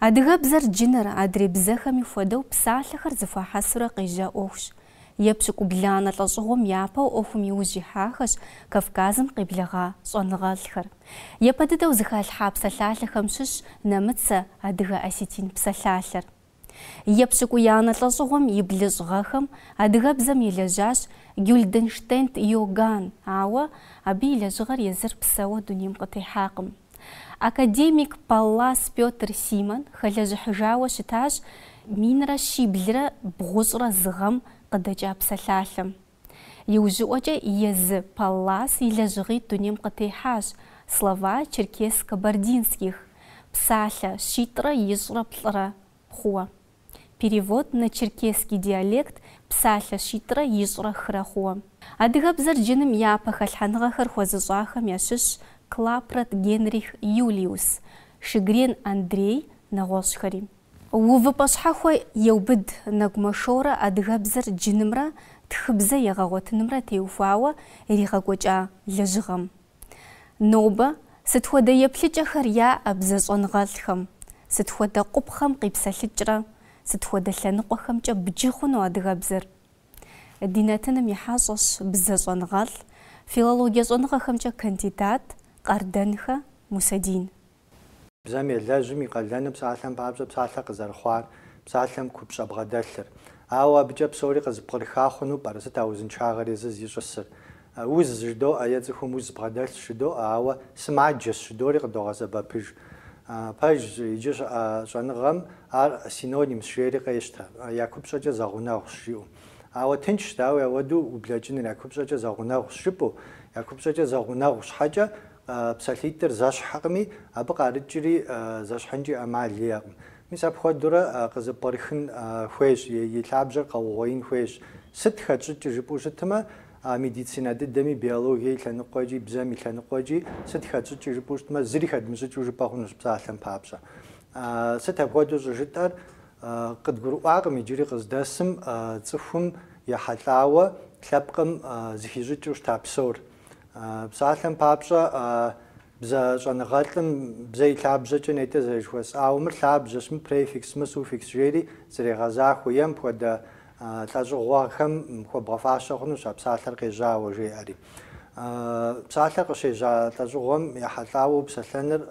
Адыгэбзэр джыныр, адрей бзэхэми хуэдэу, псалъэхэр зыхуахьэсурэ къежьа ӏуэхущ. Епщыкӏубланэ лӏэщӏыгъуэм япэу ӏуэхум иужь ихьахэщ Кавказым къеблэгъа щӏэныгъэлӏхэр. Япэ дыдэу зыхалъхьа псалъалъэхэм щыщщ нэмыцэ-адыгэ-осетин псалъалъэр. Епщыкӏуиянэ лӏэщӏыгъуэм и блыщӏ гъэхэм адыгэбзэм елэжьащ Гюльденштедт Иоганн, ауэ абы и лэжьыгъэр езыр псэуэ дунейм къытехьакъым. Академик Паллас Пётр Симон хэлэжьыхьыжауэ щытащ минрэ щиблрэ бгъущӏрэ зы гъэм къыдэкӏа псалъалъэм. Иужьыӏуэкӏэ езы Паллас и лэжьыгъитӏ дунейм къытехьащ, слова черкес-кабардинских, псалъэ щитӏрэ ищӏрэ плӏырэ хъууэ. Перевод на черкесский диалект псалъэ щитӏрэ ищӏрэ хырэ хъууэ. Адыгэбзэр джыным япэ хэлъхьэныгъэхэр хуэзыщӏахэм ящыщщ Клапрот Генрих Юлиус, Шёгрен Андрей, нэгъуэщӏхэри. Увыпӏэ щхьэхуэ еубыд Нэгумэ Шорэ адыгэбзэр джынымрэ тхыбзэ егъэгъуэтынымрэ теухуауэ иригъэкӏуэкӏа лэжьыгъэм. Нобэ сыт хуэдэ еплъыкӏэхэр яӏэ бзэ щӏэныгъэлӏхэм, сыт хуэдэ къупхъэм къипсэлъыкӏрэ сыт хуэдэ лъэныкъуэхэмкӏэ бджы хъуну адыгэбзэр? Ди нэтыным и хьэщӏэщ бзэ щӏэныгъэлӏ, филологие щӏэныгъэхэмкӏэ кандидат Къардэнхэ Мусэдин. Бзэм елэжьым и къалэныр псалъэм папщӏэ псалъэ къызэрыхъуар, псалъэм купщӏэ бгъэдэлъыр. Ауэ абыкӏэ псори къызыпкърыха хъуну пӏэрэ? Сыт а узыншагъэр езыр зищӏысыр? Уз жыдоӏэ е цӏыхум уз бгъэдэлъщ жыдоӏэ, ауэ сымаджэщ жыдори къыдогъэсэбэпыж. Пэжщ иджы щыӏэ щӏэныгъэм ар синонимщ жери къещтэ. Я купщӏэкӏэ зэгъунэгъущ жиӏэу. Ауэ тыншщ, дауи ауэду ублэкӏыныр, я купщӏэкӏэ зэгъунэгъущ жыпӏэу. Я купщӏэкӏэ зэгъунэгъу щхьэкӏэ, Псалъитӏыр зэщхькъыми, абы къарыкӏри зэщхьынкӏи ӏэмал иӏэкъым. Мис апхуэдэурэ къызыпкърыхын хуейщ, и лъабжьэр къэугъуеин хуейщ. Сыт хэтщӏыкӏыр жыпӏэу щытмэ, медицинэ дыдэми, биологие и лъэныкъуэкӏи, бзэм и лъэныкъуэкӏи, сыт хэтщӏыкӏыр жыпӏэу щытмэ, зыри хэдмыщӏыкӏыу жыпӏэ хъунущ псалъэм папщӏэ. Сыт апхуэдэу щӏыжытӏэр? Къыдгурыӏуакъым иджыри къыздэсым цӏыхум ехьэлӏауэ лъэпкъым зыхищӏыкӏыу щыта псор. Псалъэм папщӏэ, бзэ щӏэныгъэлӏым бзэ и лъабжьэкӏэ нетӏэ зэрыжыхуэсӏауэ, мыр лъабжьэщ, мыр префикс, мыр суффикс жери зэрегъэзахуэ, е мыпхуэдэ лӏэщӏыгъуэхэм хуэбгъэфащэ хъунущ а псалъэр къежьауэ, жеӏэри. Псалъэр къыщежьа лӏэщӏыгъуэм ехьэлӏауэ упсэлъэныр,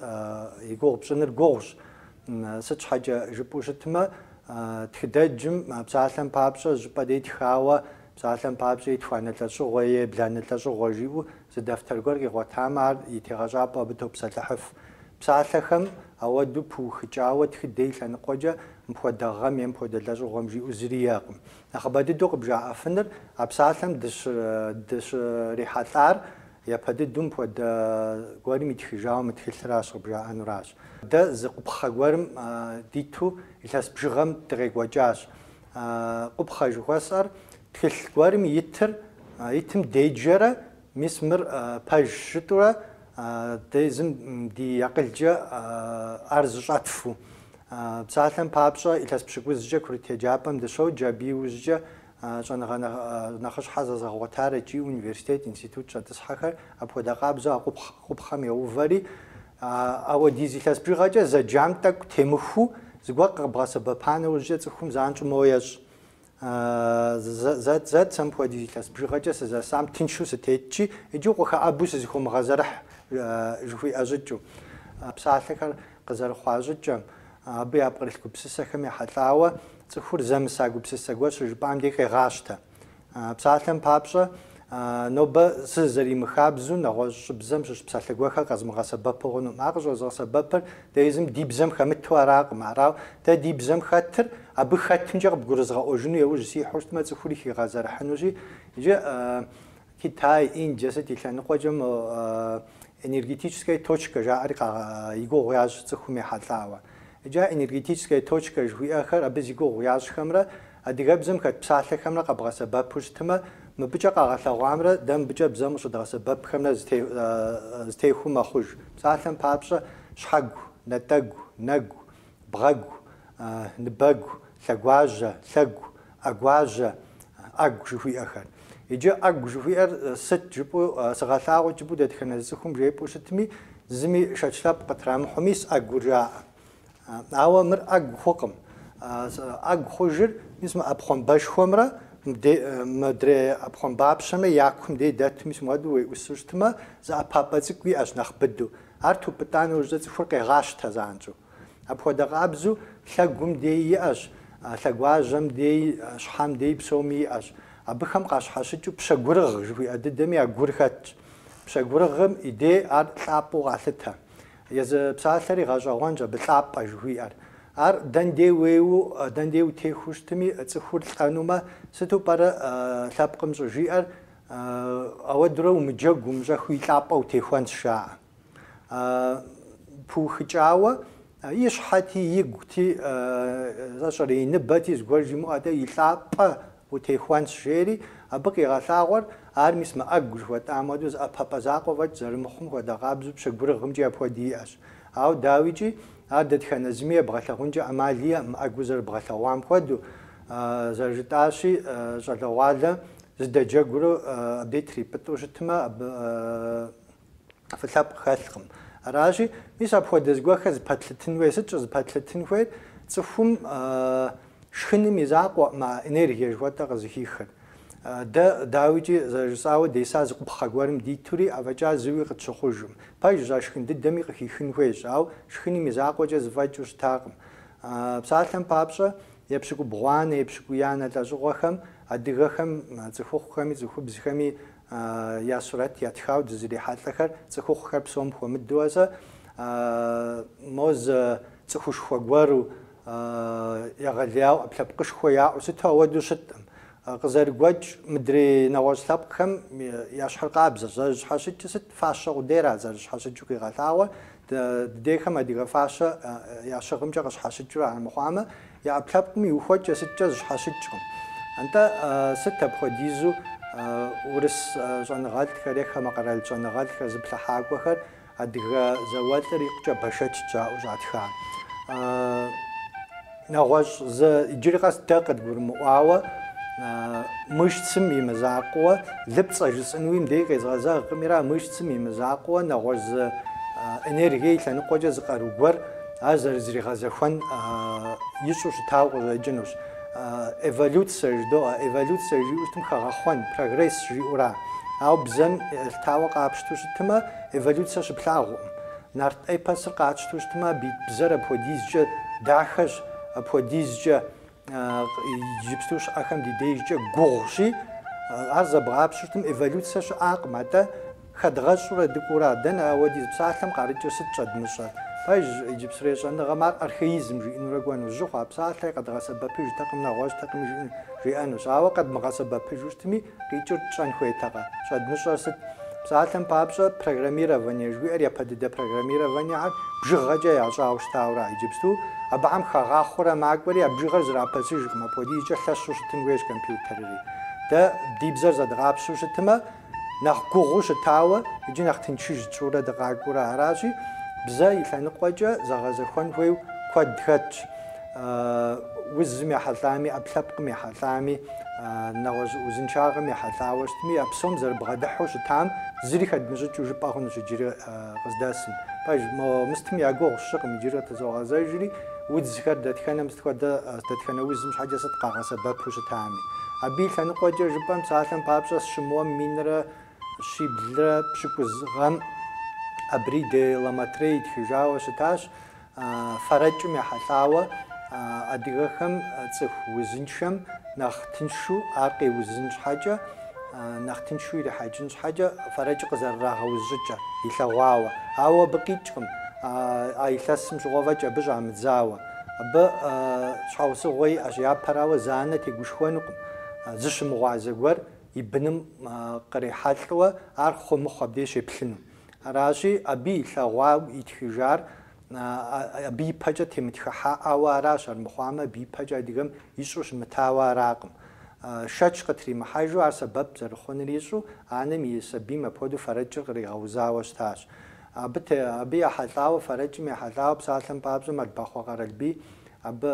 и гугъу пщӏыныр гугъущ. Сыт щхьэкӏэ жыпӏэу щытмэ, тхыдэджым псалъэм папщӏэ щӏыпӏэ де тхауэ Псалъэм папщӏэ, етхуанэ лӏэщӏыгъуэ ебланэ лӏэщӏыгъуэ жиӏэу зы дэфтэр гуэр къигъуэтамэ, ар и тегъэщӏапӏэу абы топсэлъыхьыф. Псалъэхэм ауэдэу пыухыкӏауэ тхыдэ и лъэныкъуэкӏэ мыпхуэдэ гъэм е мыпхуэдэ лӏэщӏыгъуэм жиӏэу зыри иӏэкъым. Нэхъыбэ дыдэу къыбжаӏэфыныр, а псалъэм дыщрихьэлӏар япэ дыдэу мыпхуэдэ гуэрым итхыжауэ мы тхылъыращ къыбжаӏэнуращ. Дэ зы къупхъэ гуэрым диту илъэс бжыгъэм дыкъекӏуэкӏащ. А къупхъэ жыхуэсӏэр тхылъ гуэрым итыр итым деджэрэ, мис мыр пэжщ жытӏурэ дэ езым ди акъылкӏэ ар зыщӏэтфу. Псалъэм папщӏэ, илъэс пщыкӏузкӏэ курыт еджапӏэм дыщоджэ, абы иужькӏэ щӏэныгъэ нэхъыщхьэ зэзыгъэгъуэтар икӏи университет, институт щӏэтӏысхьэхэр апхуэдэ къабзэу а къупхъэм еувэри, А ауэдиз илъэс бжыгъэкӏэ зэджам тӏэкӏу темыхыу зыгуэр къыкъыбгъэсэбэпа нэужькӏэ цӏыхум занщӏэу моуэ ещӏ. Зэ, зэт сэ мыпхуэдиз илъэс бжыгъэкӏэ сызэсам тыншу сытетщи, иджы укъыхэӏэбу сызэхыумыгъэзэрыхь, жыхуиӏэ щӏыкӏэу. Псалъэхэр къызэрыхъуа щӏыкӏэм, абы япкърылъ гупсысэхэм ехьэлӏауэ, цӏыхур зэмыса гупсысэ гуэр щыжыпӏам деж къегъащтэ. Псалъэм папщӏэ, нобэ сызэримыхабзэу нэгъуэщӏыбзэм щыщ псалъэ гуэрхэр къэзмыгъэсэбэпу хъунукъым. Ар къыщӏэзгъэсэбэпыр дэ езым ди бзэм хэмыту аракъым. Арау, дэ ди бзэм хэтыр абы хэтымкӏэ къыбгурызгъэӏуэжыну яужь сихьэу щытмэ, цӏыхури хигъэзэрыхьынущи, иджы Китай, Индие сыт и лъэныкъуэкӏэ мы энергетическая точка жаӏэри и гугъу ящӏ цӏыхум ехьэлӏауэ. Иджы энергетическая точка жыхуиӏэхэр абы зи гугъу ящӏхэмрэ адыгэбзэм хэт псалъэхэмрэ къэбгъэсэбэпу щытмэ, мыбыкӏэ къагъэлъэгъуамрэ дэ мыбыкӏэ бзэм къыщыдгъэсэбэпхэмрэ зытехуэу мэхъуж. Псалъэм папщӏэ, щхьэгу, нэтӏэгу, нэгу, бгъэгу, ныбэгу, лъэгуажьэ, лъэгу, ӏэгуажьэ, ӏэгу жыхуиӏэхэр. Иджы ӏэгу жыхуиӏэр сыт жыпӏэу сыгъэлъагъут жыпӏэу дэтхэнэ зы цӏыхум жепӏэу щытми, зыми шэч лъэпкъ къытрамыхьу мис ӏэгур жаӏэ. Ауэ мыр ӏэгу хъукъым. ӏэгу хъужыр мис мы ӏэпхъуамбэшхуэмрэ мыдрей ӏэпхъуамбапщэмрэ я кум дей дэту мис муэду уеӏусу щытмэ, зы ӏэпапӏэ цӏыкӏу иӏэщ нэхъ быдэу. Ар тупӏытӏа нэужькӏэ цӏыхур къегъащтэ занщӏэу. Апхуэдэ къабзу лъэгум дей иӏэщ, лъэгуажьэм дей, щхьэм дей псоми иӏэщ. Абыхэм къащхьэщыкӏыу пщэгурыгъ жыхуиӏэ дыдэми а гур хэтщ. Пщэгурыгъым и дей ар лӏапӏэу къалъытэ. Езы псалъэри гъэщӏэгъуэнщ абы лӏапӏэ жыхуиӏэр. Ар дэндей уеуэу, дэндей утехуэу щытми, цӏыхур лӏэнумэ, сыту пӏэрэ лъэпкъым щӏыжиӏэр? Ауэдурэ умыджэгу умыщӏэхыу и лӏапӏэ утехуэнщ, жаӏэ. Пыухыкӏауэ, и щхьэти, игути, сэ сщӏэрэ, и ныбэти зыгуэр жимыӏэу атӏэ и лӏапӏэ утехуэнщ, жери, абы къигъэлъагъуэр ар мис мы ӏэгу жыхуэтӏам хуэдэу зы ӏэпэпӏэ закъуэ фӏэкӏ зэрымыхъум хуэдэ къабзэу пщэгурыгъымкӏи апхуэдэ иӏэщ. Ауэ, дауикӏи, ар дэтхэнэ зыми ебгъэлъагъункӏэ ӏэмал иӏэкъым, ӏэгур зэрыбгъэлъэгъуам хуэдэу, зэрыжытӏащи, щӏалэгъуалэ Зэдэджэгуурэ абы трипӏытӏу щытмэ, абы фӏы лъэпкъ хэлъкъым. Аращи, мис апхуэдэ зыгуэрхэр зыпэтлъытын хуейр сыт? Щӏызыпэтлъытын хуейр цӏыхум шхыным и закъуэӏым а энергие жыхуэтӏэр къызыхихыр. Дэ, дауикӏи, зэрыжысӏауэ деса зы къупхъэ гуэрым дитури, афӏэкӏа зыуи къытщыхъужым. Пэжщ, а шхын дыдэми къыхихын хуейщ, ауэ шхыным и закъуэкӏэ зыфӏэкӏыу щытакъым. Псалъэм папщӏэ, епщыкӏубгъуанэ, епщыкӏуиянэ лӏэщӏыгъуэхэм Адыгэхэм, цӏыхухъухэми цӏыхубзхэми я сурэт ятхауэ дызрихьэлӏэхэр цӏыхухъухэр псом хуэмыдэуэ зэ, мо зы цӏыхушхуэ гуэру, егъэлеяуэ, ӏэпкълъэпкъышхуэ яӏэу сыту ауэдэу щыткъым. Къызэрыгуэкӏ, мыдрей нэгъуэщӏ лъэпкъхэм ящхьыркъабзэщ, зэрыщхьэщыкӏыр сыт, фащэ къудейрат зэрыщхьэщыкӏыу къигъэлъагъуэр, дыдейхэм адыгэ фащэ ящыгъымкӏэ къыщхьэщыкӏыура, армыхъуамэ, Я ӏэпкълъэпкъым и ухуэкӏэ сыткӏэ зыщхьэщыкӏкъым. Антӏэ сыт апхуэдизу урыс щӏэныгъэлӏхэр е хамэ къэрал щӏэныгъэлӏхэр зыплъыхьакӏуэхэр адыгэ зауэлӏыр икъукӏэ бэшэчт жаӏэу щӏатхар? Нэгъуэщӏ зы, иджыри къэс дэ къыдгурымыӏуауэ, мышцым и мызакъуэ, лыпцӏэ жысӏынуи мыбдей къезгъэзэгъкъымира, мышцым и мызакъуэ, нэгъуэщӏ зы энергие и лъэныкъуэкӏэ зы къару гуэр, Ар зэрызригъэзэхуэн ищӏу щытауэ къыщӏэкӏынущ. Эволюцэр жыдоӏэ, эволюцэр жиӏэу щытым хэгъэхъуэн, прогресс жиӏэура. Ауэ бзэм елъытауэ къапщту щытымэ, эволюцэр щыплъагъукъым. Нарт эпосыр къатщту щытымэ, абы ит бзэр апхуэдизкӏэ дахэщ, апхуэдизкӏэ Иджыпсту щыӏэхэм ди дежкӏэ гугъущи, ар зэбгъапщэу щытым, эволюцэ щыӏакъым, атӏэ хэдгъэщӏурэ дыкӏуура, дэнэ ауэдиз псалъэм къарыкӏыр сыт щӏэдмыщӏэр? Пэжщ, иджыпсрей щӏэныгъэм ар архаизм жиӏэнурэ кӏуэну, жьы хъуа псалъэри къэдгъэсэбэпыжтэкъым, нэгъуэщӏтэкъыми жиӏэнущ. Ауэ къэдмыгъэсэбэпыжу щытми, Къикӏыр тщӏэн хуейтэкъэ? Щӏэдмыщӏэр сыт? Псалъэм папщӏэ, программирование жыхуиӏэр, япэ дыдэ программированиехэр, бжыгъэкӏэ ящӏауэ щытауэра. Иджыпсту абыхэм хэгъахъуэрэ макӏуэри, а бжыгъэр зрапэсыжкъым, апхуэдизкӏэ лъэщу щытын хуейщ компьютерри. Дэ ди бзэр зэдгъапщэу щытымэ, нэхъ гугъуу щытауэ икӏи нэхъ тыншыж тщӏурэ дыкъакӏуэурэ аращи, бзэ и лъэныкъуэкӏэ зэгъэзэхуэн хуейу куэд хэтщ. Узым ехьэлӏами, ӏэпкълъэпкъым ехьэлӏами, нэгъуэщӏ узыншагъэм ехьэлӏауэ щытми, а псом зэрыбгъэдыхьу щытам зыри хэдмыщӏыкӏыу жыпӏэ хъунущ иджыри къыздэсым. Пэж, мо мыстым я гугъу сщӏыкъым, иджыри къытызогъэзэжри, удзхэр дэтхэнэм сыт хуэдэ, дэтхэнэ узым щхьэкӏэ сыт къагъэсэбэпу щытами. Абы и лъэныкъуэкӏэ жыпӏэм, псалъэм папщӏэ, сщымыуэм минрэ щиблрэ пщыкӏуз гъэм Абри де ла Мотрей итхыжауэ щытащ, Фэрэкӏым ехьэлӏауэ адыгэхэм цӏыху узыншэм нэхъ тыншу ар къеузын щхьэкӏэ, нэхъ тыншу ирихьэкӏын щхьэкӏэ фэрэкӏыр къызэрырагъэуз щӏыкӏэ илъэгъуауэ. Ауэ абы къикӏкъым, а илъэсым щыгъуэ фӏэкӏа абы щӏамыдзауэ. Абы щхьэусыгъуэ иӏэщ, япэрауэ зы анэ тегушхуэнукъым, зыщымыгъуазэ гуэр и быным кърихьэлӏэуэ ар хъу-мыхъу абдей щеплъыну. Аращи, абы илъэгъуауэ итхыжар абы и пэкӏэ темытхыхьаӏауэ аращ, армыхъуамэ, абы и пэкӏэ адыгэм ищӏу щымытауэ аракъым. Шэч къытримыхьэжу, ар сэбэп зэрыхъуныр ищӏу, анэм и сабийм апхуэдэу фэрэкӏыр къригъэузауэ щытащ. Абы абы ехьэлӏауэ, фэрэкӏым ехьэлӏауэ псалъэм папщӏэ Мэлбахъуэ Къэралбий абы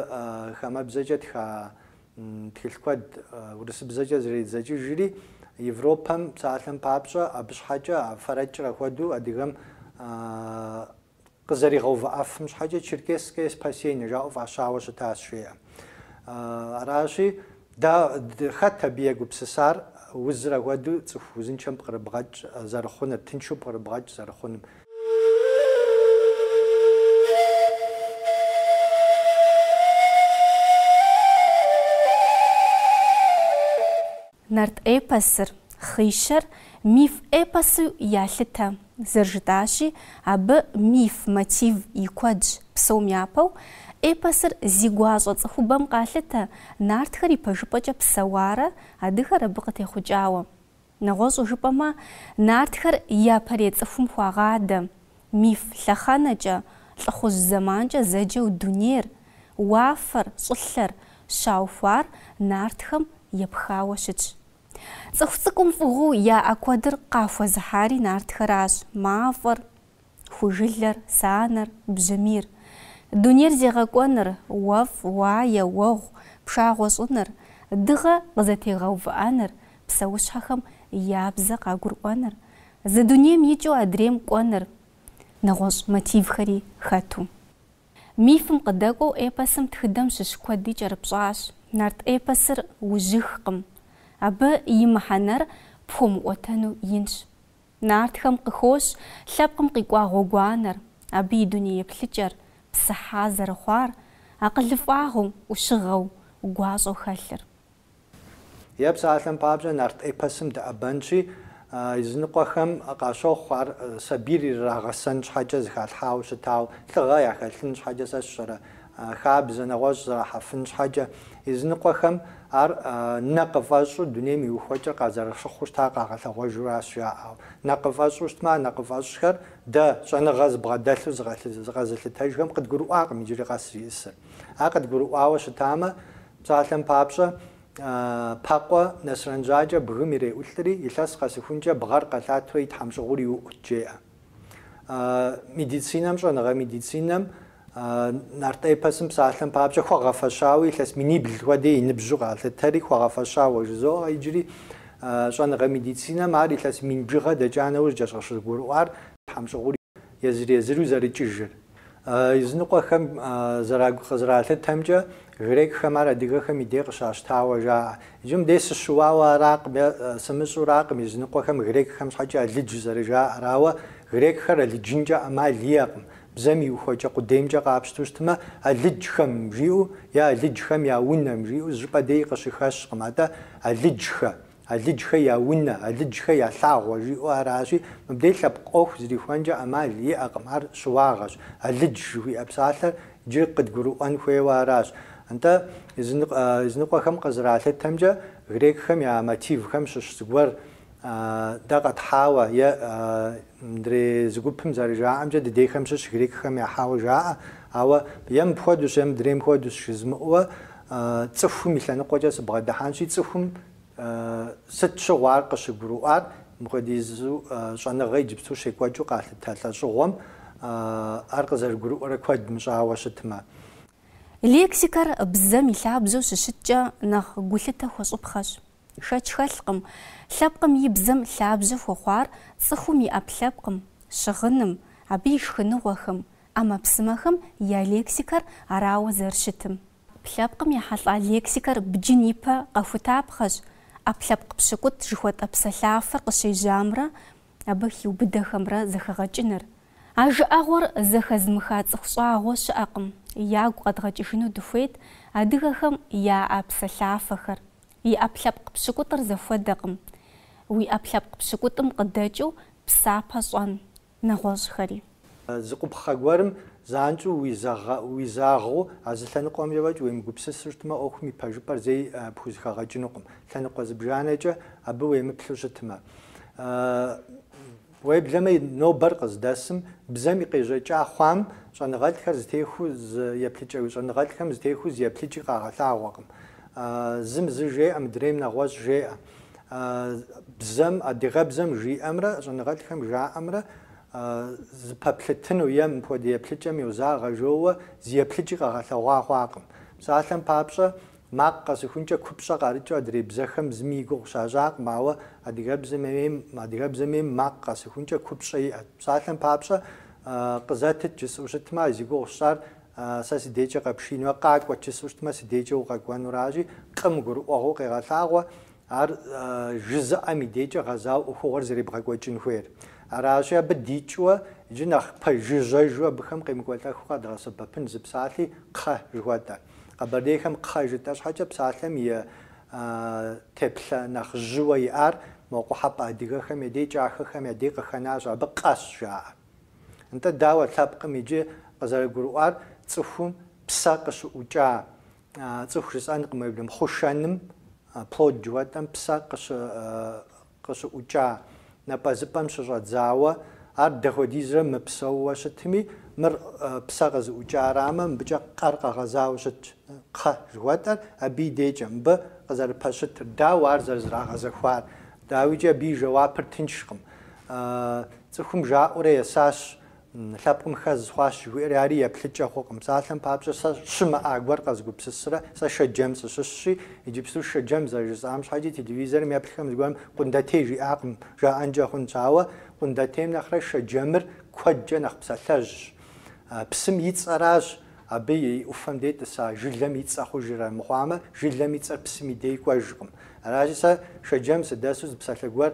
хамэбзэкӏэ тха Тхылъ куэд урысыбзэкӏэ зэредзэкӏыжри, Европэм псалъэм папщӏэ, абы щхьэкӏэ а фэрэкӏыр апхуэдэу адыгэм къызэригъэувыӏэфым щхьэкӏэ Черкесское спасение жаӏэу фӏащауэ щытащ, жеӏэ. Аращи, да, хэт абы егупсысар узыр апхуэдэу цӏыху узыншэм пкърыбгъэкӏ зэрыхъуныр, тыншу пкърыбгъэкӏ зэрыхъунум? Нарт эпосыр, Хъишэр, миф эпосу ялъытэ, зэрыжытӏащи, абы миф мотив и куэдщ. Псом япэу, эпосыр зи гуащӏэ цӏыхубэм къалъытэ, нартхэр ипэжыпӏэкӏэ псэуарэ, адыгэр абы къытехъукӏауэ. Нэгъуэщӏу жыпӏэмэ, нартхэр япэрей цӏыхум хуагъадэ, миф лъэхъэнэкӏэ, лӏыхъужь зэманкӏэ зэджэу дунейр, уафэр, щӏылъэр, щаухуар нартхэм епхауэ щытщ. Цӏыху цӏыкӏум фӏыгъыу яӏэ куэдыр къахуэзыхьари нартхэращ, мафӏэр, Ху жылэр, санэр, бжьамийр. Дунейр зегъэкӏуэныр, уэфӏ, уае, уэгъу, пшагъуэ щӏыныр. Дыгъэ къызэтегъэувыӏэныр, псэущхьэхэм я бзэ къагурыӏуэныр. Зы дунейм икӏыу адрейм кӏуэныр. Нэгъуэщӏ мотивхэри хэту. Мифым къыдэкӏуэу эпосым тхыдэм щыщ куэди кӏэрыпщӏащ. Нарт эпосыр ужьыхкъым. Абы и мыхьэнэр пхуэмыӏуэтэну инщ. Нартхэм къыхощ лъэпкъым къикӏуа гъуэгуанэр, абы и дунейеплъыкӏэр, псыхьа зэрыхъуар, акъылыфӏагъыу, ӏущыгъэу, гуащӏэу хэлъыр. Е псалъэм папщӏэ, нарт эпосым дэӏэбэнщи, языныкъуэхэм къащохъу ар сабийр ирырагъэсэн щхьэкӏэ зыхалъхьауэ щытауэ, лӏыгъэ яхэлъын щхьэкӏэ сэ сщӏэрэ, А хабзэ нэгъуэщӏ зэрахьэфын щхьэкӏэ, языныкъуэхэм ар нэ къыфӏэщӏу дунейм и ухуэкӏэр къазэрыщыхъуу щытар къагъэлъэгъуэжуращ жаӏэу. Нэ къыфӏэщӏу щытмэ, а нэ къыфӏэщӏхэр дэ, щӏэныгъэ зыбгъэдэлъу зыкъэзылъытэжхэм, къыдгурыӏуакъым иджыри къэс зиӏысыр. Ар къыдгурыӏуауэ щытамэ, псалъэм папщӏэ, Пэкъуэ Нэсрэнжьакӏэ бгым иреӏулӏри, илъэс къэсыхункӏэ бгъэр къэлъатэу и тхьэмщӏыгъур иуӏут, жеӏэ. Медицинэм, щӏэныгъэ медицинэм нарт эпосым псалъэм папщӏэ хуэгъэфэщауэ илъэс минибл хуэдэ и ныбжьу къалъытэри хуэгъэфэщауэ жызоӏэ иджыри щӏэныгъэ медицинэм ар илъэс мин бжыгъэ дэкӏа нэужькӏэщ къыщыгурыӏуар тхьэмщӏыгъур езыр-езыру зэрыкӏыжыр. Языныкъуэхэм зэрагу къызэралъытэмкӏэ, грекхэм ар адыгэхэм и дей къыщащтауэ жаӏэ. Иджы мыбдей сыщыуауэ аракъым е сымыщӏуракъым, языныкъуэхэм грекхэм щхьэкӏэ алыдж зэрыжаӏэр. Ауэ грекхэр алыджынкӏэ ӏэмал иӏэкъым. Бзэм и ухуэкӏэ къудеймкӏэ къапщту щытмэ, алыджхэм жиӏэу е алыджхэм я унэм жиӏэу зы щӏыпӏэ деи къыщыхэщкъым. Атӏэ алыджхэ, Алыджхэ я унэ, алыджхэ я лъагъуэ жиӏэу аращи, мыбдей лъэпкъ ӏуэху зэрихуэнкӏэ ӏэмал иӏэкъым, ар щыуагъэщ. Алыдж жыхуиӏэ псалъэр иджы къыдгурыӏуэн хуейуэ аращ. Нтӏэ, языныкъуэхэм къызэралъытэмкӏэ, грекхэм я мотивхэм щыщ зыгуэр дэ къэтхьауэ е адрей зы гупым зэрыжаӏэмкӏэ, дыдейхэм щыщ грекхэм яхьауэ жаӏэ, ауэ е мыпхуэдущ, е мыдрейм хуэдущ жызмыӏэуэ, Цӏыхум и лъэныкъуэкӏэ сыбгъэдыхьэнщи, цӏыхум сыт щыгъуэ ар къыщыгурыӏуар, мыпхуэдизу щӏэныгъэ иджыпсту щекӏуэкӏыу къалъытэ лӏэщӏыгъуэм ар къызэрыгурыӏуэрэ куэд мыщӏауэ щытмэ. Лексикэр бзэм и лъабжьэу щыщыткӏэ, нэхъ гулъытэ хуэщӏыпхъэщ. Хэч хэлъкъым, лъэпкъым и бзэм лъабжьэ хуэхъуар цӏыхум и ӏэпкълъэпкъым, щыгъыным, абы и шхыныгъуэхэм, ӏэмэпсымэхэм я лексикэр арауэ зэрыщытым. Ӏэпкълъэпкъым ехьэлӏа лексикэр бджын ипэ къэхутапхъэщ, ӏэпкълъэпкъ пщыкӏутӏ жыхуэтӏэ псэлъафэр къыщежьамрэ абы хиубыдэхэмрэ зэхэгъэкӏыныр. А жыӏэгъуэр зэхэзмыха цӏыху щӏагъуэ щыӏэкъым, ягу къэдгъэкӏыжыну дыхуейт адыгэхэм яӏэ псэлъафэхэр, И ӏэпкълъэпкъ пщыкӏутӏыр зэхуэдэкъым. Уи ӏэпкълъэпкъ пщыкӏутӏым къыдэкӏыу псапэ щӏэн, нэгъуэщӏхэри. Зы къупхъэ гуэрым занщӏэу уизагъэу а зы лъэныкъуэмкӏэ фӏэкӏ уемыгупсысу щытмэ, ӏуэхум и пэжыпӏэр зэи пхузэхэгъэкӏынукъым, лъэныкъуэ зыбжанэкӏэ абы уемыплъу щытмэ. Уеблэмэ и нобэр къыздэсым, бзэм и къежьэкӏа хъуам щӏэныгъэлӏхэр зэтехуэу зы еплъыкӏэ щӏэныгъэлӏхэм зэтехуэу зы еплъыкӏи къагъэлъагъуэкъым. Зым зы жеӏэ, мыдрейм нэгъуэщӏ жеӏэ. Бзэм, адыгэбзэм жиӏэмрэ щӏэныгъэлӏхэм жаӏэмрэ зэпэплъытыну е мыпхуэдэ еплъыкӏэм йозагъэ жоуэ зы еплъыкӏи къэгъэлъэгъуа хъуакъым. Псалъэм папщӏэ, Макъ къэсыхункӏэ купщӏэ къарыкӏыу адрей бзэхэм зыми и гугъу щащӏакъым, ауэ адыгэбзэми макъ къэсыхункӏэ купщӏэ иӏэт. Псалъэм папщӏэ, Къызэтыт, жысӏэу щытмэ, зи гугъу сщӏар сэ си дейкӏэ къэпшиинуэ, Къакӏуэт, жысӏэу щытмэ, си дейкӏэ укъэкӏуэнуращи, Къым гурыӏуэгъуэу къегъэлъагъуэ ар жызыӏэм и дейкӏэ гъэзауэ ӏуэхугъуэр зэребгъэкӏуэкӏын хуейр. Аращи, абы дикӏыуэ иджы нэхъ пэжыжьэжу абыхэм къемыкӏуэлӏэхыу къэдгъэсэбэпын зы псалъи кхъэ жыхуэтӏэ. Къэбэрдейхэм кхъэ жытӏэ щхьэкӏэ псалъэм и теплъэ нэхъ жьыуэ иӏар мо къухьэпӏэ адыгэхэм я дей кӏахэхэм я дей къыхэнащ, абы къэщ жаӏэ. Нтӏэ, дауэ лъэпкъым иджы къызэрыгурыӏуар цӏыхум псэ къыщыӏукӏа, цӏыху жысӏэнкъым уеблэмэ, хъушэным, плод жыхуэтӏэм псэ къыщыӏукӏа напӏэзыпӏэм щыщӏэдзауэ, ар дахуэдизрэ мыпсэууэ щытми, мыр псэ къызыӏукӏарамэ, мыбыкӏэ къэр къэгъэзауэ щытщ. Кхъэ жыхуэтӏэр абы и дейкӏэ, мыбы къызэрыпэщытыр, дауэ ар зэрызэрагъэзэхуар. Дауикӏи абы и жэуапыр тыншкъым. Цӏыхум жаӏэурэ есащ, Лъэпкъым хэз хъуащ жыхуиӏэри ари еплъыкӏэ хъукъым. Псалъэм папщӏэ, сэ щымыӏа гуэр къэзгупсысрэ, сэ Шэджэм сыщыщщи, иджыпсту Шэджэм зэрыжысӏам щхьэкӏи телевизорым еплъхэм зыгуэрым Къундэтей жиӏакъым, жаӏэнкӏэ хъунщ. Ауэ Къундэтейм нэхърэ Шэджэмыр куэдкӏэ нэхъ псалъэжьщ. Псым и цӏэращ абы и ӏуфэм дэтӏыса жылэм и цӏэ хъужыр, амыхъуамэ, жылэм и цӏэр псым и дей кӏуэжкъым. Аращи, сэ Шэджэм сыдэсу зы псалъэ гуэр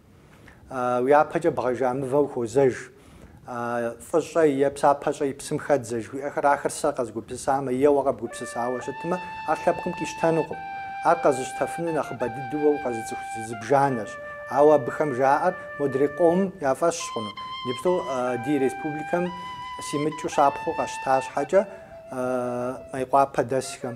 Уи япэкӏэ бгъэжа мывэ ухуозэж. Фӏы щӏэ е псапэ щӏэи псым хэдзэ жыхуиӏэхэр ахэр сэ къэзгупсысамэ е уэ къэбгупсысауэ щытмэ, ар лъэпкъым къищтэнукъым. Ар къэзыщтэфыну нэхъыбэ дыдэу уэ укъэзыцӏыху зыбжанэщ. Ауэ абыхэм жаӏэр модрей къом я фӏэщщ хъуну. Иджыпсту ди республикэм симыкӏыу щапхъэу къэсщта щхьэкӏэ, Мейкъуапэ дэсхэм.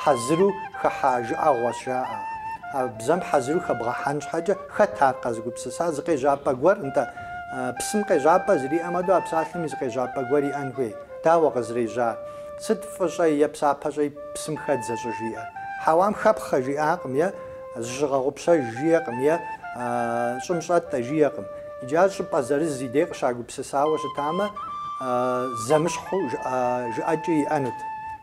Хьэзыру хыхьа жыӏэгъуэщ жаӏэ. А бзэм хьэзыру хэбгъэхьэн щхьэкӏэ, хэт ар къэзыгупсыса? Зы къежьапӏэ гуэр, нтӏэ. Псым къежьапӏэ зэриӏэм хуэдэу а псалъэми зы къежьапӏэ гуэр иӏэн хуей. Дауэ къызрежьар? Сыт фӏы щӏэ е псапэ щӏэи псым хэдзэ щӏыжиӏэр? Хьэуам хэпхъэ жиӏакъым е зыщыгъэгъупщэж жиӏэкъым е щӏым щӏэтӏэ жиӏэкъым. Иджы ар щӏыпӏэ зырыз и дей къыщагупсысауэ щытамэ, зэмыщхьу жыӏэкӏи иӏэнут.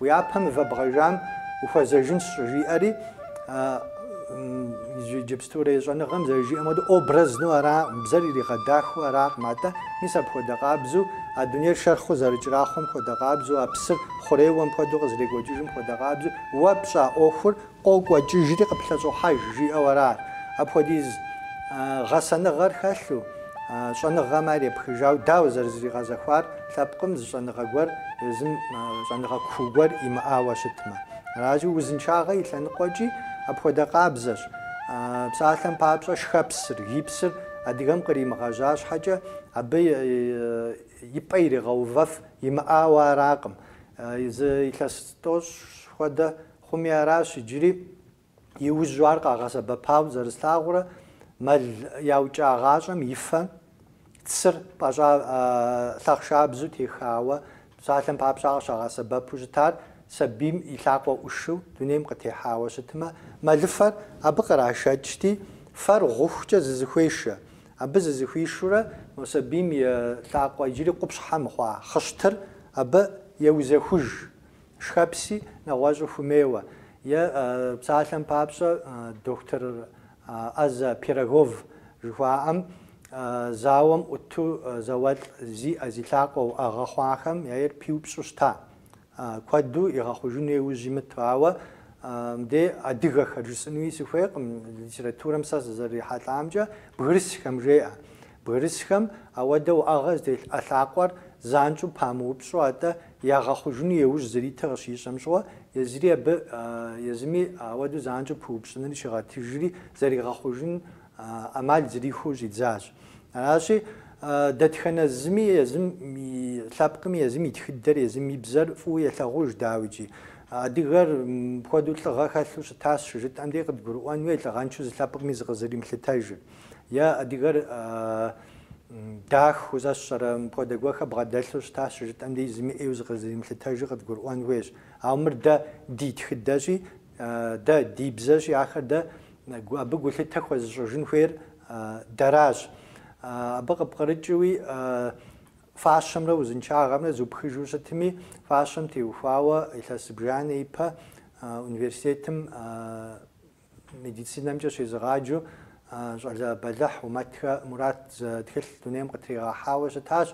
Уи япэ мывэ бгъэжам ухуэзэжынщ, щӏыжиӏэри, иджыпстурей щӏэныгъэм зэрыжиӏэм хуэдэу, образну аракъым, бзэр иригъэдахэу аракъым, атӏэ, мис апхуэдэ къабзэу, а дунейр шэрхъыу зэрыкӏэрахъуэм хуэдэ къабзэу, а псыр хъурейуэм хуэдэу къызэрекӏуэкӏыжым хуэдэ къабзэу, уэ пщӏа ӏуэхур Къокӏуэкӏыжри къыплъэщӏохьэж, жиӏэу арат. Апхуэдиз гъэсэныгъэр хэлъу, щӏэныгъэм ар епхыжауэ, дауэ зэрызригъэзэхуар лъэпкъым зы щӏэныгъэ гуэр езым щӏэныгъэ куу гуэр имыӏауэ щытмэ. Аращи, узыншагъэ и лъэныкъуэкӏи апхуэдэ къабзэщ. Псалъэм папщӏэ, шхэпсыр, гипсыр адыгэм къримыгъэжьа щхьэкӏэ, абы и пӏэ иригъэувэф имыӏауэ аракъым. Зы илъэс тӏощӏ хуэдэ Хъуми аращ иджыри, иужьу ар къагъэсэбэпау зэрыслъагъурэ, мэл яукӏагъащӏэм и фэ, цыр, пӏэщӏа лъахъшабзу техауэ, псалъэм папщӏэ къыщагъэсэбэпу щытар сабийм и лъакъуэ ӏушыу дунейм къытехьауэ щытмэ, мэлыфэр абы кърашэкӏти, фэр гъухукӏэ зызэхуешэ. Абы зызэхуишурэ мо сабийм и лъакъуэ иджыри къупщхьэ мыхъуа хъыщтыр абы еузэхуж. Шхэпси нэгъуэщӏу хуэмейуэ, е псалъэм папщӏэ, доктор ӏэзэ Пирогов жыхуаӏэм зауэм ӏуту зауэлӏ зи ӏэ зи лъакъуэ уӏэгъэ хъуахэм яйр пиупщӏу щыта. Куэду игъэхъужыну еужь имыту. Ауэ мыдей адыгэхэр жысӏынуи сыхуейкъым, литературэм сэ сызэрихьэлӏамкӏэ бгырысхэм жеӏэ. Бгырысхэм ауэдэ уӏэгъэ зытелъ ӏэ лъакъуэр занщӏэу памыупщӏу, атӏэ Ягъэхъужыну еужь зэритыр къыщищӏэм щыгъуэ, езыри абы, езыми ауэдэу занщӏэу пыупщӏыныр щигъэтыжри, зэригъэхъужын ӏэмал зэрихуэу щӏидзащ. Аращи, дэтхэнэ зыми езым и лъэпкъми, езым и тхыдэр, езым и бзэр фӏыуэ елъагъуж, дауикӏи. Адыгэр мыпхуэдэу лӏыгъэ хэлъу щытащ щыжытӏэм дей къыдгурыӏуэн хуей, лӏыгъэншэу зы лъэпкъми зыкъызэримылъытэжыр. Е адыгэр дахэу зэщӏэрэ, мыпхуэдэ гуэхэр бгъэдэлъу щытащ щыжытӏэм дей зыми ӏейуэ зыкъызэримылъытэжу къыдгурыӏуэн хуейщ. Ауэ мыр дэ ди тхыдэщи, дэ ди бзэщи, ахэр дэ абы гулъытэ хуэзыщӏыжын хуейр дэращ. Абы къыпкърыкӏыуи, фащэмрэ узыншагъэмрэ зупхыжу щытми, фащэм теухуауэ илъэс зыбжанэ ипэ университетым Медицинэмкӏэ щезыгъаджэу щӏалэ бэлыхь Умэтхэ Мурат зы тхылъ дунейм къытригъэхьауэ щытащ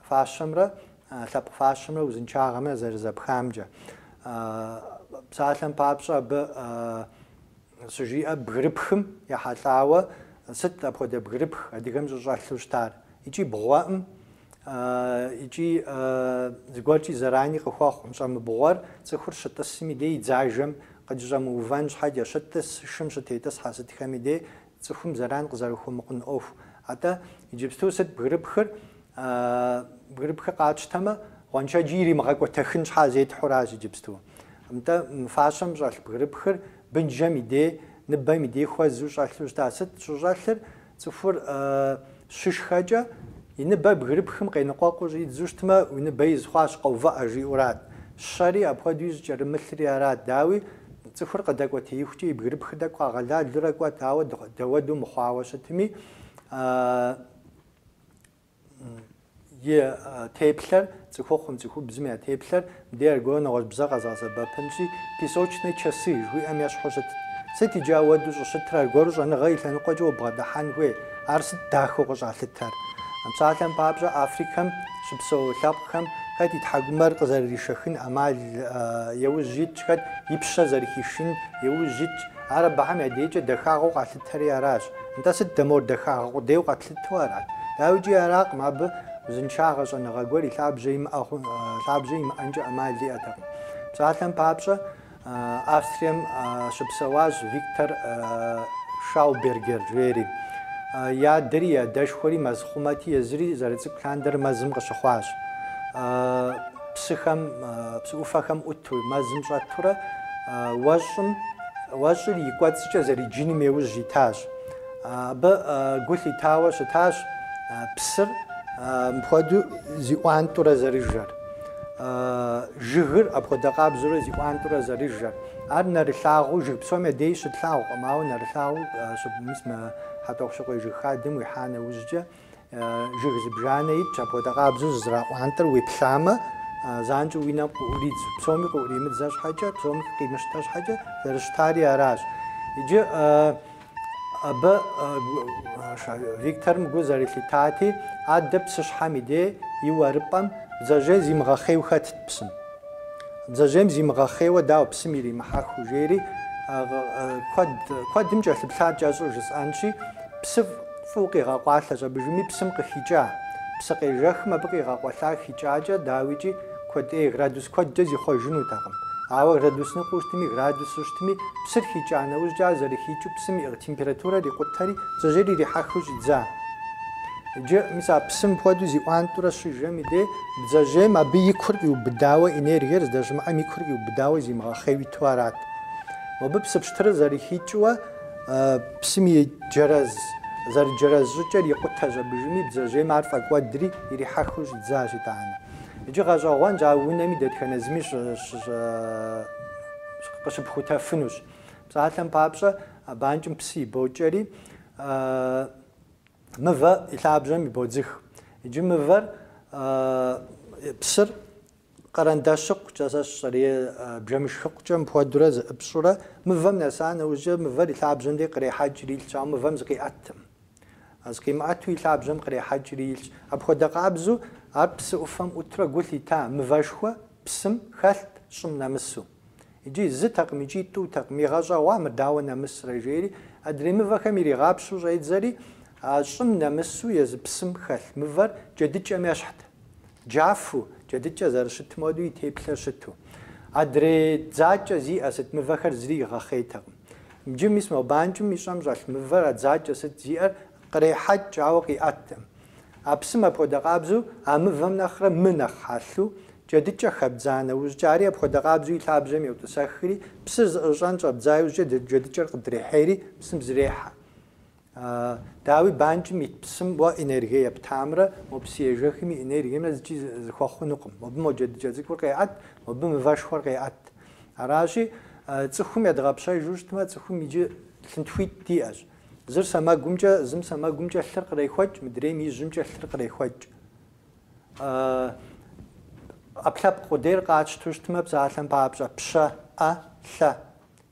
фащэмрэ лъэпкъ фащэмрэ узыншагъэмрэ зэрызэпхамкӏэ. Псалъэм папщӏэ абы щыжиӏэ бгырыпхым ехьэлӏауэ сыт апхуэдэ бгырыпх адыгэм щӏыщӏэлъу щытар икӏи бгъуэӏым икӏи зыгуэркӏи зэрани къыхуэхъуӏым. Щӏэмыбгъуэр, цӏыхур щытӏысым и дей и дзажэм къыджыщӏэмыувэн щхьэкӏэ, щытӏыс, шым щытетӏысхьэ сытхэм и дей цӏыхум зэран къызэрыхуэмыхъун ӏуэху. Атӏэ, иджыпсту сыт бгырыпхыр? Бгырыпхыр къатщтэмэ, гъуэншэджи иримыгъэкӏуэтэхын щхьэ зетхьуращ иджыпсту. Нтӏэ, мы фащэм щӏэлъ бгырыпхыр бынжэм и дей, ныбэм и дей хуэзу щӏэлъу щыта? Сыт щӏыщӏэлъыр? Цӏыхур щышхэкӏэ, и ныбэр бгырыпхым къеныкъуэкъуу щӏидзу щытмэ, уи ныбэ из хъуащ, къэувыӏэ, жиӏэурат. Щэри, апхуэдэуи щӏыкӏэрымылъри арат. Дауи, цӏыхур къыдэкӏуэтеихукӏэ и бгырыпхыр тӏэкӏу къагъэлалурэ кӏуэт, ауэ дауэдэу мыхъуауэ щытми, И теплъэр, цӏыхухъум, цӏыхубзым я теплъэр, мыдей аргуэру нэгъуэщӏ бзэ къэзгъэсэбэпынщи, песочные часы жыхуиӏэм ещхьу щытт. Сыт иджы ауэду щӏыщытыр, аргуэру щӏэныгъэ и лъэныкъуэкӏэ убгъэдыхьэн хуей? Ар сыт дахэу къыщӏалъытэр? Псалъэм папщӏэ, Африкэм щыпсэу лъэпкъхэм хэт и тхьэкӏумэр къызэрыришэхын ӏэмал еужь итщ, хэт и пщэ зэрыхишын еужь итщ. Ар абыхэм я дейкӏэ дахагъэу къалъытэри аращ. Нтӏэ, сыт дэ мор дахагъэ къудейуэ къэтлъытэну? Лъыту арат. Дауикӏи аракъым, абы узыншагъэ щӏэныгъэ гуэр и лъабжьэ имыӏэнкӏэ ӏэмал иӏэтэкъым. Псалъэм папщӏэ, Австрием щыпсэуащ Виктор Шаубергер жери. И адэри и адэшхуэри мэзхъумэти, езыри зэрыцӏыкӏу лъандэрэ мэзым къыщыхъуащ. Псыхэм, псы ӏуфэхэм ӏуту, мэзым щӏэтурэ, уэщӏым, уэщӏыр и кӏуэцӏкӏэ зэриджыным еужь итащ. Абы гу лъитауэ щытащ псыр мыпхуэдэу зиӏуантӏурэ зэрыжэр, жыгыр апхуэдэ къабзэурэ зиӏуантӏурэ зэрыжэр. Ар нэрылъагъуу, жыг псом я дей щытлъагъукъым, ауэ нэрылъагъуу щып, мис мы Хьэтӏохъущыкъуей жыг хадэм уихьа нэужькӏэ, Жыг зыбжанэ итщ, апхуэдэ къабзэу зызэраӏуантӏэр уеплъамэ, занщӏэу уи нэм къыӏуридзу, псоми къыӏуримыдзэ щхьэкӏэ, псоми къимыщтэ щхьэкӏэ, зэрыщытари аращ. Иджы абы Викторым гу зэрылъитати, адэ псыщхьэм и дей и уэрыпӏэм бдзэжьей зимыгъэхъейу хэтт псым. Бдзэжьейм зимыгъэхъейуэ дауэ псым иримыхьэхыу, жери куэдым кӏэлъыплъа, кӏэщӏу жысӏэнщи, псы Фӏыуэ къигъэкъуалъэщ абыжыми псым къыхикӏа. Псы къежэхым абы къигъэкъуэлъар хикӏакӏэ, дауикӏи, куэд ӏей, градус куэдкӏэ зихъуэжынутэкъым. Ауэ градус ныкъуэу щытми, градусу щытми, псыр хикӏа нэужькӏэ ар зэрыхикӏыу псым и температурэр икъутэри, бдзэжьейр ирихьэхыу щӏидза. Иджы, мис а псым хуэдэу зиӏуантӏурэ щыжэм и дей, бдзэжьейм абы и кур къиубыдауэ, энергиер здэщымыӏэм и кур къиубыдауэ зимыгъэхъейуэ иту арат. Мобы псы пщтырыр зэрыхикӏыуэ. Псым и джэрэз, зэрыджэрэз щӏыкӏэр икъутэщ абыжыми, бдзэжьейм ар фӏэкӏуэдри, ирихьэхыу щӏидзащ, итӏанэ. Иджы гъэщӏэгъуэнщ, а унэми дэтхэнэ зыми къыщыпхутэфынущ. Псалъэм папщӏэ, а банкӏым псы ибокӏэри, мывэ и лъабжьэм ибодзых. Иджы мывэр, псыр Къэрэндащыкъукӏэ, сэ сщӏэрей бжэмышхыкъукӏэ мыпхуэдурэ зэӏыпщӏурэ, мывэм нэса нэужькӏэ, мывэр и лъабжьэм дей кърехьэкӏри илъщ, ауэ мывэм зыкъиӏэтым. Зыкъимыӏэту и лъабжьэм кърехьэкӏри илъщ. Апхуэдэ къабзэу ар псы ӏуфэм ӏутрэ гу лъита мывэшхуэ псым хэлът, щӏым нэмысу. Иджы зытэкъым икӏи тӏутэкъым, игъэщӏэгъуа мыр дауэ нэмысрэ, жери, адрей мывэхэм иригъапщэу щӏедзэри, а щӏым нэмысу езы псым хэлъ мывэр джэдыкӏэм ещхьт. Джафу, джэдыкӏэ зэрыщытым хуэдэу и теплъэр щыту. Адрей дзакӏэ зиӏэ сыт, мывэхэр зыри игъэхъейтэкъым. Иджы мис мо банкӏым и щӏэм щӏэлъ мывэр а дзакӏэ сыт зиӏэр кърехьэкӏ, ауэ къиӏэттэкъым. А псым апхуэдэ къабзэу, а мывэм нэхърэ мы нэхъ хьэлъу, джэдыкӏэ хэбдза нэужькӏэ, ари апхуэдэ къабзэу и лъабжьэм йотӏысэхри, псыр зэӏыщӏэн щӏэбдза иужькӏэ джэдыкӏэр къыдрехьейри, псым зрехьэ. Дауи, банкӏым ит псым уэ энергие ептамрэ, мо псыежэхым и энергиемрэ зыкӏи зыхуэхъунукъым. Мобы мо джэдыкӏэ цӏыкӏур къеӏэт, мобы мывэшхуэр къеӏэт. Аращи, цӏыхум едгъэпщэжу щытмэ, цӏыхум иджы лъынтхуитӏ диӏэщ. Зыр сэмэгумкӏэ, зым сэмэгумкӏэ лъыр кърехуэкӏ, мыдрейм ижьымкӏэ лъыр кърехуэкӏ. ӏэпкълъэпкъ къудейр къатщту щытмэ, псалъэм папщӏэ, пщэ, ӏэ, лъэ.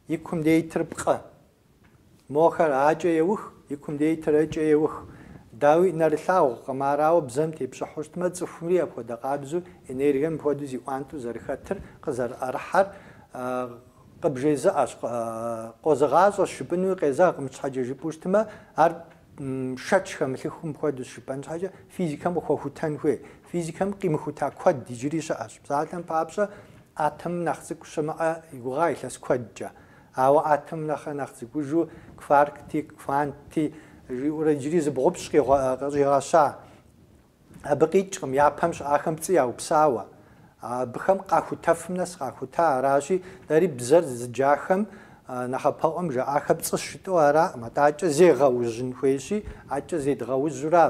И кум дейтыр пкъы. Мохэр акӏэ еух, и кум дейтыр ыкӏэ еух. Дауи, нэрылъагъукъым, арауэ бзэм тепщӏыхьу щытмэ, цӏыхумри апхуэдэ къабзэу, энергием мыпхуэдэу зиӏуантӏэу зэрыхэтыр, къызэрыӏэрыхьэр, Къыбжезыӏэщ, къозыгъащӏэщ жыпӏэнуи къезэгъкъым щхьэкӏэ жыпӏэу щытмэ, ар шэч хэмылъыхум хуэдэу жыпӏэн щхьэкӏэ физикэм къыхуэхутэн хуей. Физикэм къимыхута куэд иджыри щыӏэщ. Псалъэм папщӏэ, атомым нэхъ цӏыкӏу щымыӏэ и гугъа илъэс куэдкӏэ. Ауэ атомым нэхърэ нэхъ цӏыкӏужу кваркти, квантти жиӏэурэ иджыри зыбгъупщӏ къыщӏигъэща. Абы къикӏкъым япэм щыӏахэм пцӏы яупсауэ. Абыхэм къахутэфым нэс къахута аращи, дэри бзэр зыджахэм нэхъапэӏуэм жаӏахэр пцӏыщ жытӏэу араӏым, атӏэ акӏэ зегъэужьын хуейщи, акӏэ зедгъэужьурэ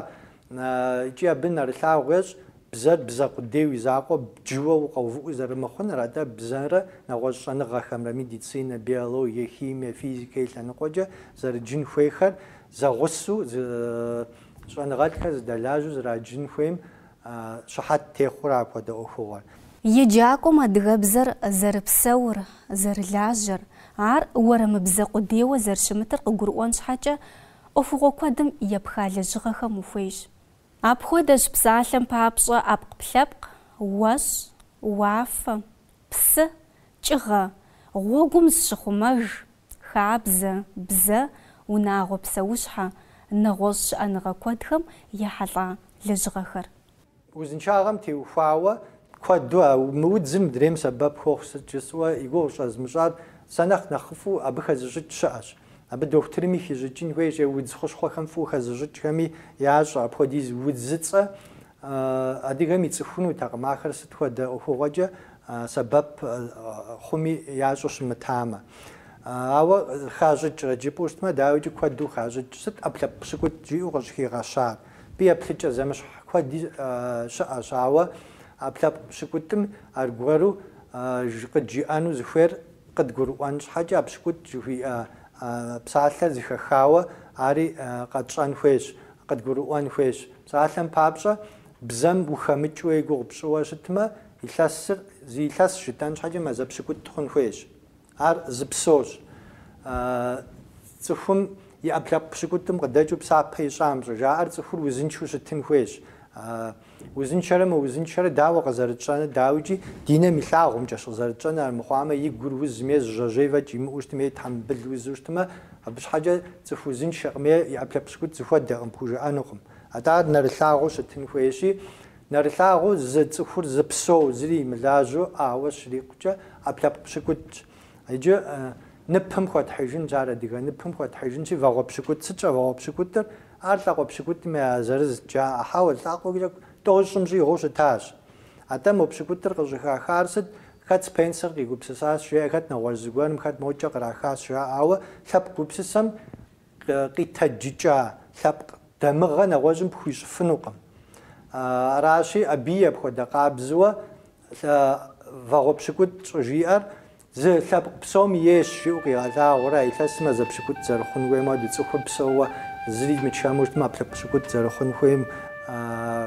икӏи абы нэрылъагъу ещӏ, бзэр бзэ къудейуэ и закъуэ бджыуэ укъэувыӏэу зэрымыхъуныр, атӏэ бзэрэ нэгъуэщӏ щӏэныгъэхэмрэ, медицинэ, биологие, химие, физикэ и лъэныкъуэкӏэ зэрыджын хуейхэр зэгъусу, Щӏэныгъэлӏхэр зыдэлажьэу зэраджын хуейм щыхьэт техъуэрэ апхуэдэ ӏуэхугъуэр? Еджакӏуэм адыгэбзэр зэрыпсэур, зэрылажьэр, ар уэрэмыбзэ къудейуэ зэрыщымытыр къыгурыӏуэн щхьэкӏэ, ӏуэхугъуэ куэдым епха лэжьыгъэхэм ухуейщ. Апхуэдэщ псалъэм папщӏэ ӏэпкълъэпкъ, уэщӏ, уафэ, псы, кӏыгъэ, гъуэгум зыщыхъумэж, Хабзэ, бзэ, унагъуэ псэущхьэ, нэгъуэщӏ щыӏэныгъэ куэдхэм ехьэлӏа лэжьыгъэхэр. Узыншагъэм теухуауэ куэду а мы удзыр мыдрейм сэбэп хуохъу сыт жысӏэу и гугъу щӏэзмыщӏар, сэ нэхъ нэхъыфӏу абы хэзыщӏыкӏ щыӏэщ. Абы дохутырми хищӏыкӏын хуейщ е удз хущхъуэхэм фӏыуэ хэзыщӏыкӏхэми ящӏэ апхуэдиз удзыцӏэ Адыгэм ицӏыхунутэкъым ахэр сыт хуэдэ ӏуэхугъуэкӏэ сэбэп хъуми ящӏэу щымытамэ. Ауэ хащӏыкӏрэ жыпӏэу щытмэ, дауикӏи куэду хащӏыкӏ. Сыт ӏэпкълъэпкъ пщыкӏутӏ жиӏэу къыщӏыхигъэщар? Абы еплъыкӏэ зэмыщхь куэди щыӏэщ, ауэ ӏэпкълъэпкъ пщыкӏутӏым аргуэру къыджиӏэну зыхуейр къыдгурыӏуэн щхьэкӏэ, а пщыкӏутӏ жыхуиӏэ псалъэр зыхэхауэ ари къэтщӏэн хуейщ, къыдгурыӏуэн хуейщ. Псалъэм папщӏэ, бзэм ухэмыкӏыуэ и гугъу пщӏыуэ щытмэ, илъэсыр зы илъэсщ жытӏэн щхьэкӏэ мазэ пщыкӏутӏ хъун хуейщ. Ар зы псощ. Цӏыхум и ӏэпкълъэпкъ пщыкӏутӏым къыдэкӏыу псапэ ищӏам щӏыжаӏэр цӏыхур узыншэу щытын хуейщ. Узыншэрэ мыузыншэрэ дауэ къызэрытщӏэныр, дауикӏи ди нэм илъагъумкӏэщ къызэрытщӏэныр, армыхъуамэ, и гур узмэ е зы жьэжьей фӏэкӏ имыӏэу щытмэ е тхьэмбыл узу щытмэ, Абы щхьэкӏэ цӏыху узыншэкъым е и ӏэпкълъэпкъ пщыкӏутӏ зыхуэдэкъым, пхужыӏэнукъым. Атӏэ ар нэрылъагъуу щытын хуейщи, нэрылъагъуу зы цӏыхур зы псоуэ, зыри имылажьэу ауэ щрикъукӏэ, ӏэпкълъэпкъ пщыкӏутӏщ. Иджы ныпым хуэтхьыжынщ, ар адыгэ ныпым хуэтхьыжынщи, вагъуэ пщыкӏутӏ. Сыт щӏэ вагъуэ пщыкӏутӏыр? Ар лӏакъуэ пщыкӏутӏым я зырызт, жаӏэ. Хьэуэ, лӏакъуэкӏэ тӏощӏым щӏигъуу щытащ. Атӏэ мо пщыкӏутӏыр къыщӏыхахар сыт, хэт Спенсер къигупсысащ, жеӏэ, хэт нэгъуэщӏ зыгуэрым, хэт мокӏэ кърахащ жаӏауэ, лъэпкъ гупсысэм къитэджыкӏа лъэпкъ дамыгъэ нэгъуэщӏым пхуищӏыфынукъым. Аращи, абыи апхуэдэ къабзэуэ вагъуэ пщыкӏутӏ щӏыжиӏэр Зы лъэпкъ псом ейщ, жиӏэу къигъэлъагъуэрэ, а илъэсыр мазэ пщыкӏутӏ зэрыхъун хуейм хуэдэуи цӏыхур псоуэ зыри мычэму щытмэ, ӏэпкълъэпкъ пщыкӏутӏ зэрыхъун хуейм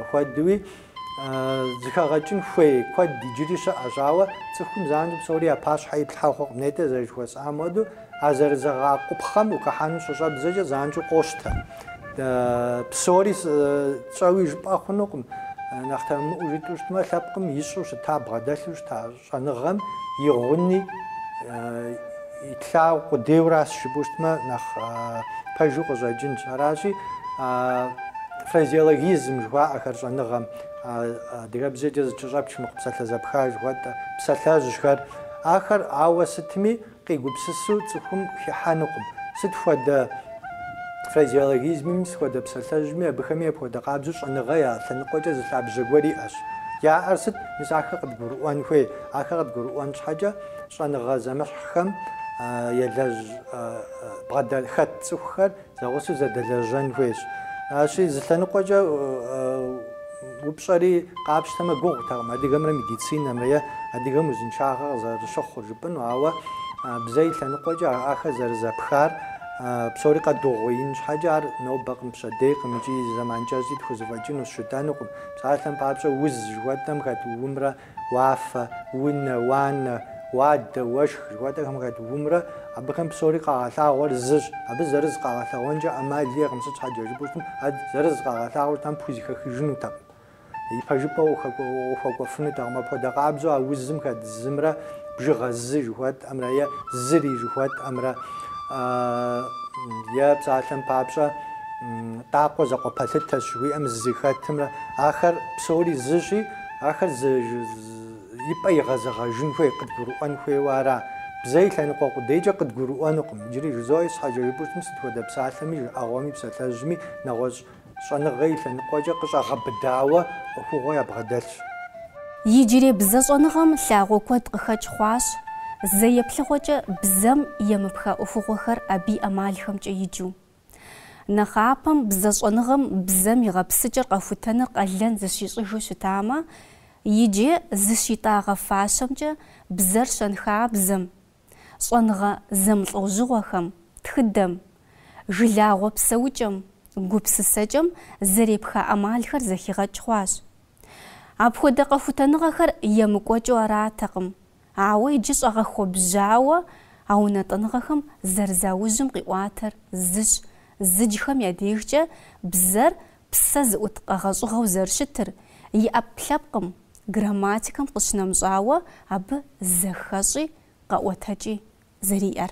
хуэдэуи, зыхэгъэкӏын хуей куэд иджыри щыӏэщ. Ауэ цӏыхум занщӏэу псори я пащхьэ иплъхьэ хъуркъым, нетӏэ зэрыжыхуэсӏам хуэдэу, а зэрызэгъэакъупхъэм ухыхьэну щыщӏэбдзэкӏэ занщӏэу къощтэ. Псори тщӏэуи жыпӏэ хъунукъым, нэхъ тэмэмыӏуэу жытӏэу щытмэ, лъэпкъым ищӏэу щыта, бгъэдэлъу щыта. Щӏэныгъэм и гъуни итлъагъу къудейуращ жыпӏэу щытмэ, нэхъ пэжу къыщӏэкӏынщ. Аращи, фразеологизм жыхуаӏэхэр щӏэныгъэм, адыгэбзэкӏэ зэкӏэщӏэпч мыхъу псалъэ зэпха жыхуэтӏэ, псалъэжьхэр, ахэр ауэ сытми, Къигупсысу цӏыхум хихьэнукъым. Сыт хуэдэ фразеологизмми, сыт хуэдэ псалъэжьми, абыхэми апхуэдэ къабзэу щӏэныгъэ я лъэныкъуэкӏэ зы лъабжьэ гуэр иӏэщ. Яӏэр сыт? Мис ахэр къыдгурыӏуэн хуей. Ахэр къыдгурыӏуэн щхьэкӏэ щӏэныгъэ зэмыщхьхэм елэжь бгъэдэлъ хэт цӏыхухэр Зэгъусэу зэдэлэжьэн хуейщ. Аращи, зы лъэныкъуэкӏэ упщӏэри къапщтэмэ гугъутэкъым адыгэмрэ медицинэмрэ е адыгэм узыншагъэ къызэрыщыхъур жыпӏэну, ауэ бзэ и лъэныкъуэкӏэ ахэр зэрызэпхар псори къэдугъуеин щхьэкӏэ ар нобэкъым, пщэдейкъым икӏи зэман кӏэщӏи тхузэфӏэкӏыну щытэнукъым. Псалъэм папщӏэ, уз жыхуэтӏэм хэт у-мрэ уафэ, унэ, уанэ, уадэ, уэшх жыхуэтӏэхэм хэт умрэ, абыхэм псори къагъэлъагъуэр зыщ. Абы зырыз къагъэлъэгъуэнкӏэ ӏэмал иӏэкъым, сыт щхьэкӏэ жыпӏэу щытым, ар зырыз къагъэлъагъуэтэм пхузэхэхыжынутэкъым, и пэжыпӏэ ухуэкӏуэфынутэкъым. Апхуэдэ къабзэу а узым хэт зымрэ, бжыгъэ зы жыхуэтӏэмрэ е зыри жыхуэтӏэмрэ, е псалъэм папщӏэ Тӏакъуэ закъуэ пэлъытэщ жыхуиӏэм зы хэтымрэ, ахэр псори зыщи, Ахэр зы и пӏэ игъэзэгъэжын хуей, къыдгурыӏуэн хуейуэ ара. Бзэ и лъэныкъуэ къудейкӏэ къыдгурыӏуэнукъым. Иджыри жызоӏэ, щхьэкӏэ жыпӏэу щытым, сыт хуэдэ псалъэми, жыӏэгъуэми, псалъэжьми нэгъуэщӏ щӏэныгъэ и лъэныкъуэкӏэ къыщӏэгъэбыдауэ ӏуэхугъуэ ябгъэдэлъщ. Иджырей бзэщӏэныгъэм лъагъуэ куэд къыхэкӏ хъуащ, зэ еплъыгъуэкӏэ бзэм емыпха ӏуэхугъуэхэр абы и ӏэмалхэмкӏэ иджу. Нэхъапэм бзэщӏэныгъэм бзэм и гъэпсыкӏэр къэхутэныр къалэн зыщищӏыжу щытамэ, иджы зыщитӏагъэ фащэмкӏэ бзэр щэнхабзэм, щӏэныгъэ зэмылӏэужьыгъуэхэм, тхыдэм, жылагъуэ псэукӏэм, гупсысэкӏэм зэрепха ӏэмалхэр зэхигъэкӏ хъуащ. Апхуэдэ къэхутэныгъэхэр емыкӏуэкӏыу аратэкъым Ауэ иджы щӏэгъэхуэбжьауэ а унэтӏыныгъэхэм зэрызаужьым къиӏуатэр зыщ, зыджхэм я дежкӏэ бзэр псэ зыӏут къэгъэщӏыгъэу зэрыщытыр, и ӏэпкълъэпкъым, грамматикэм къыщынэмыщӏауэ абы зэхэщӏи къэӏуэтэкӏи зэриӏэр.